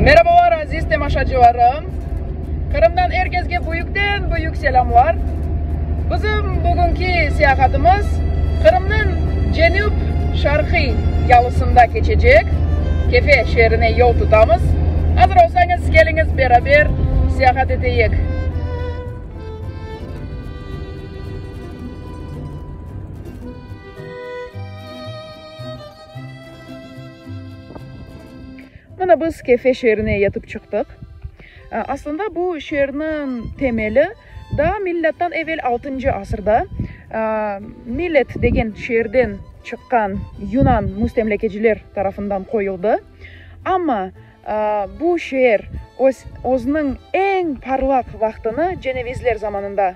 Merabalar aziz temaşacılarım! Qırımdan er kesge büyükten büyük selâmlar! Bizim bugünki seyahatımız Qırımnıñ cenüp şarqiy yalısında keçecek, Kefe şeerine yol tutamız. Azır olsañız, keliñiz beraber seyahat eteyik! Mına biz Kefe şeerine yetip çıqtıq. Aslında bu şeerniñ temeli daa milâttan evel altıncı asırda Milet degen şeerden çıqqan yunan müstemlekeciler tarafından qoyuldı. Amma bu şeer öz, özüniñ eñ parlaq vaqtını cenevizler zamanında.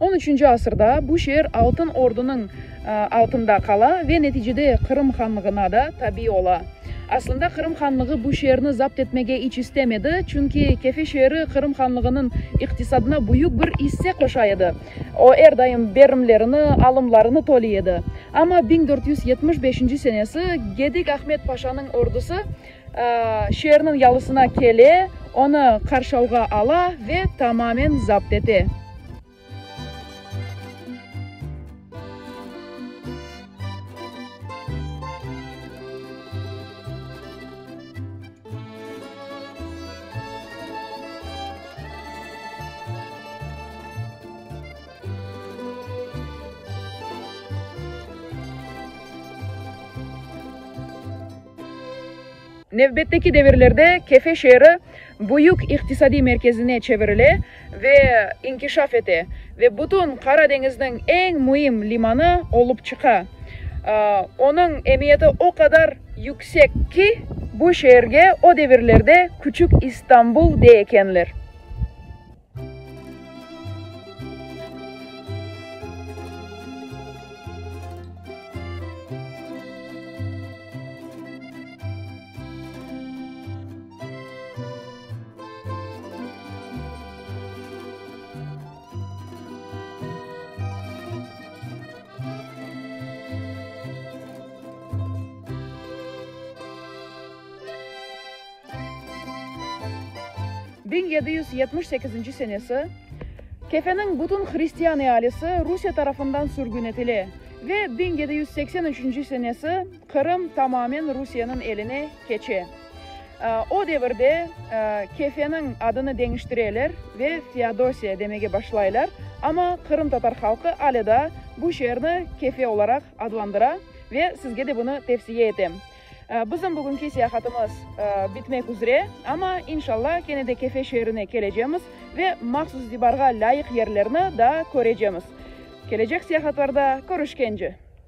On üçünci asırda bu şeer Altın Ordunıñ altında qala ve neticede Qırım Hanlığına da tabi ola. Aslında Qırım Hanlığı bu şeerni zapt etmege iç istemedi, çünki Kefe şeeri Qırım Hanlığınıñ iqtisadına büyük bir isse qoşa edi. O er daim berimlerini, alımlarını töli edi. Amma biñ dört yüz yetmiş beşinci senesi Gedik Ahmet Paşanıñ ordusı şeerniñ yalısına kele, onı qarşalğa ala ve tamamen zapt ete. Nevbetteki devirlerde Kefe şeeri büyük iqtisadiy merkezine çevirile, ve inkişaf ete ve bütün Qara deñizniñ eñ müim limanı olıp çıqa. Onıñ emiyeti o qadar yüksek ki. Bu şeerge o devirlerde Küçük İstanbul dey ekenler. Biñ yedi yüz yetmiş sekizinci senesi Kefeniñ bütün hristian ealisi Rusiye tarafından sürgün etile ve biñ yedi yüz seksen üçünci senesi Qırım tamamen Rusiyeniñ eline keçe. O devirde Kefeniñ adını deñiştireler ve Feodosiya demege başlaylar, amma qırımtatar halqı ale daa bu şeerni Kefe olaraq adlandıra ve sizge de bunı tevsiye etem. Bizim bugünki seyahatımız bitmek üzre, amma, inşallah, kene de Kefe şeerine kelecemiz ve mahsus itibarğa lâyıq yerlerni daa körecemiz. Kelecek seyahatlarda körüşkence!